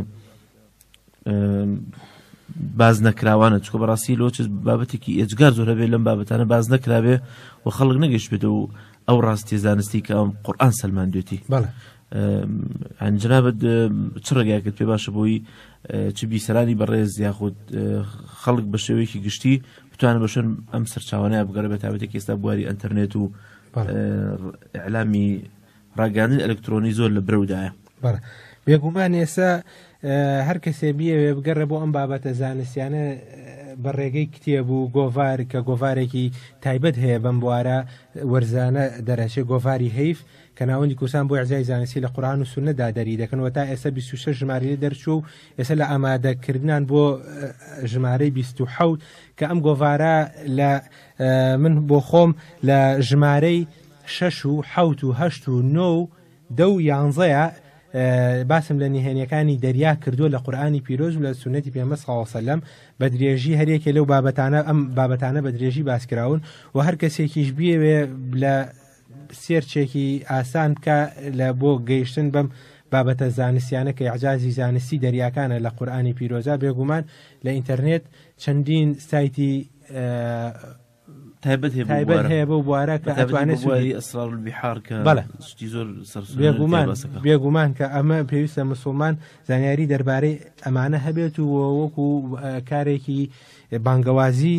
باز نەکراوانە چکە بەڕاستی لۆچ بابەتێکی ئێجگار زۆر هەبێت لەم بابەتانە باز نەکراوێ و خەڵک نەگەشتێت و ئەو ڕاستی زانستی کە ئەم قورآان سلمان دوێتی ئەنجنابت چ ڕێگاکرد پێ باشە بۆی چ بیسەرانی بەڕێز یاخود خەڵک بە شێوەیەکی گشتی بتوانە بەشن ئەم سەرچاوانە بگەڕێ بە تاوەتێک ئێستا بواری ئەتەرنێت و ئەلامی ڕاگەاندن ئەلکترۆنی زۆر لە برەودایە بەڵ بێگومان ئێستا هەر کەسێ بیەوێ بگەڕێ بۆ ئەم بابەتە زانستیانە بە ڕێگەی کتێب و گۆڤار کە گۆڤارێکی تایبەت هەیە بەم بوارە وەرزانە دەرەچێ گۆڤاری هەیف کە ناوەندی کوردستان بۆ ئیعجای زانستی لە قورئان و سوننە دا دەری دەکەن و تا ئێستا بیست و شەش ژمارەی لێ دەرچووە و ئێستا لە ئامادە کردنان بۆ ژمارەی بیست و حەوت کە ئەم گۆڤارە لە من بۆ خۆم لە ژمارەی شەش و حەوت و هەشت و نۆ و دە و یانزەیە باسم لە نهێنیەکانی دەریا کردووە لە قورآانی پیرۆز و لە سونەتی پێمە ساوەسەلم بە درێژی هەرێکێ لەو بابەتانە ئەم بابەتانە بە درێژی باسکراون و هەر کەسێکیش بیەوێ لە سێرچێکی ئاسان بکە لە بۆ گەیشتن بەم بابەتە زانستیانە کە عجازی زانستی دەریاکانە لە قورآانی پیرۆزە بێگومان لە ئینتەرنێت چەندین سایتی تایبەت تایبەت هەیە بۆ بوارە کە ئەتوانێت سواری ئەسرار بحار کە بەڵێ ستی زۆر بێگومان بێگومان کە ئەمە پێویستە مسلمان زانیاری دەربارەی ئەمانە هەبێت و وەکو کارێکی بانگەوازی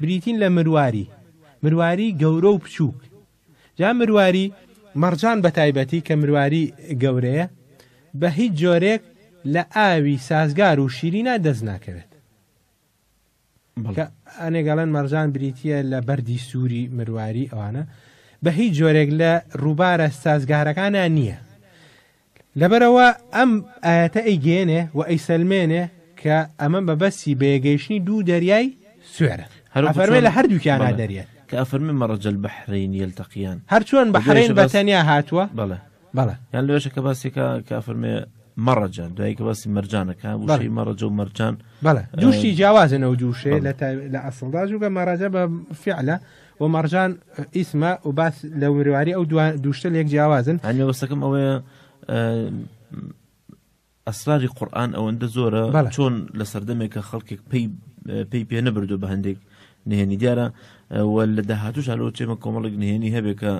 بریتین لە مرواری مرواری گەورە و بچووک جا مرواری مەڕجان بە تایبەتی کە مرواری گەورەیە بە هیچ جۆرێک لە ئاوی سازگار و شیرینا دەست ناکەوێت ئەنێگەڵەن مەرجان بریتە لە بەری سووری مرواری ئەوانە بە هیچ جۆرێک لە ڕووبارە سازگارەکانە نییە لەبەرئەوە ئەم ئایەتە ئەیگەیەنێ و ئەیسەلمێنێ کە ئەمە مەبەستی بەیەگەیشتنی دوو دەریای سوێرە، ئەفەرمێ لە هەردووکیانا دەریێن. کە ئەفەرمێ مەرەج البحرین یەلتەقیان. هەرچۆن بەحرەین بەتەنیا هاتووە. بەڵێ. بەڵێ. یان لەوێشە کە باسی کە کە ئەفەرمێ مەڕەجە دوایی کە باسی مەرجانە کە وشەی مەڕەجە و مەرجان بەڵێ دووشتی جیاوازن ئەو دوو شێ لە ئەسڵدا جوگە مەڕەجە بە فیعلە و مەڕجان ئیسمە و باس لە ورواری ئەو دوشتە لێک جیاوازن هەنێ وەستەکەم ئەوەیە ئەسراری قورآن ئەوەندە زۆرە چۆن لە سەردەمێک کە خەڵکێک پێی پێی پێ نەبردو بە هەندێک نهێنی دیارە لە داهاتوش هەلو چێمە کۆمەڵک نهێنی هەبێ کە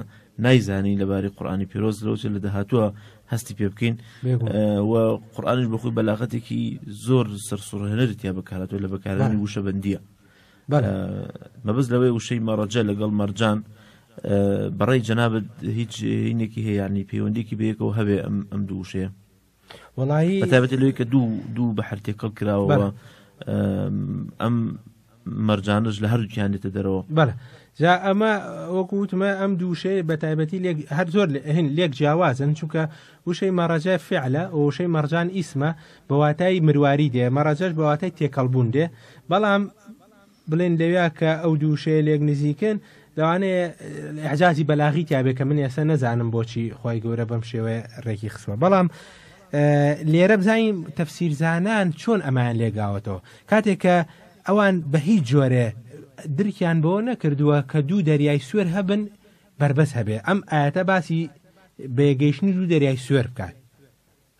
نایزانی لەباری قورآانی پیرۆز لەوچ لە داهاتوە هەستی پێ بکەین و قورآانش بخۆی بەلاغەتێکی زۆر سەرسوڕهێنەر تیا بەکاراتەوە لە بەکارانی وشە بەندیە بەلە مەبەست لەوەی وشەی مەڕەجە لەگەڵ مەرجان بەڕێی جەنابەت هیچ هینێکی هەیە ینی پەیوەندێکی بەیەکەوە هەبێ ئەم ئەم دوو وشەیە وڵایی بەتابەت لەوەی کە دوو دوو بە هەر تێکەڵ کراوە ئەم مەرجانش لە هەردووکیان دێتە دەرەوە بەە جا ئەمە وەکو وتمە ئەم دووشەیە بە تایبەتی هەر زۆر هین لێک جیاوازن چونکە وشەی مەڕەجە فعلە و وشەی مەڕجان ئیسمە بە واتای مرواری دێ، مەڕەجەش بە واتای تێکەڵبوون دێ، بەڵام بڵێن لەویا کە ئەو دوو وشەیە لێک نزیکن لەوانەیە ئەعجازی بەلاغی تیاابێ کە من ئێستا نەزانم بۆچی خی گەورە بەم شێوەیە ڕێکی خسوە بەڵام لێرە بزانین تەفسیرزانان چۆن ئەمان لێگاوەتەوە کاتێک کە ئەوان بە هیچ جۆرێ درکیان بۆ نەکردووە کە دوو دەریای سوێر هەبن بەربەست هەبێ ئەم ئایەتە باسی بەیەگەیشتنی دوو دەریای سوێر بکات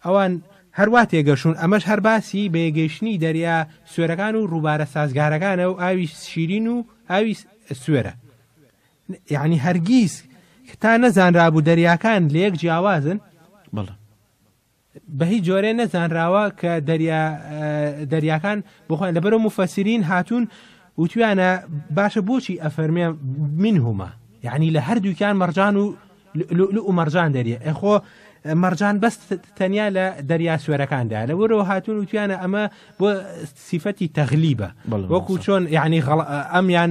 ئەوان هەروا تێگەشون ئەمەش هەر باسی بەیەگەیشتنی دەریا سوێرەکان و ڕووبارە سازگارەکانە و ئاوی شیرین و ئاوی سوێرە یعنی هەرگیز تا نەزانرابوو دەریاکان لە یەک جیاوازن بەڵێ بە هیچ جۆرێ نەزانراوە کە دەریا دەریاکان بخۆن لەبەرو مفەسرین هاتوون وتویانە باشە بۆچی ئەفەرمێ من هما یعنی لە هەردووکیان مەرجان و لو مەرجان دەریە ئەخۆ مەرجان بەس تەنیا لە دەریا سوێرەکاندا لە وەرەوە هاتون وتویانە ئەمە بۆ سیفەتی تەغلیبە وەکو چۆن یعنی ئەمیان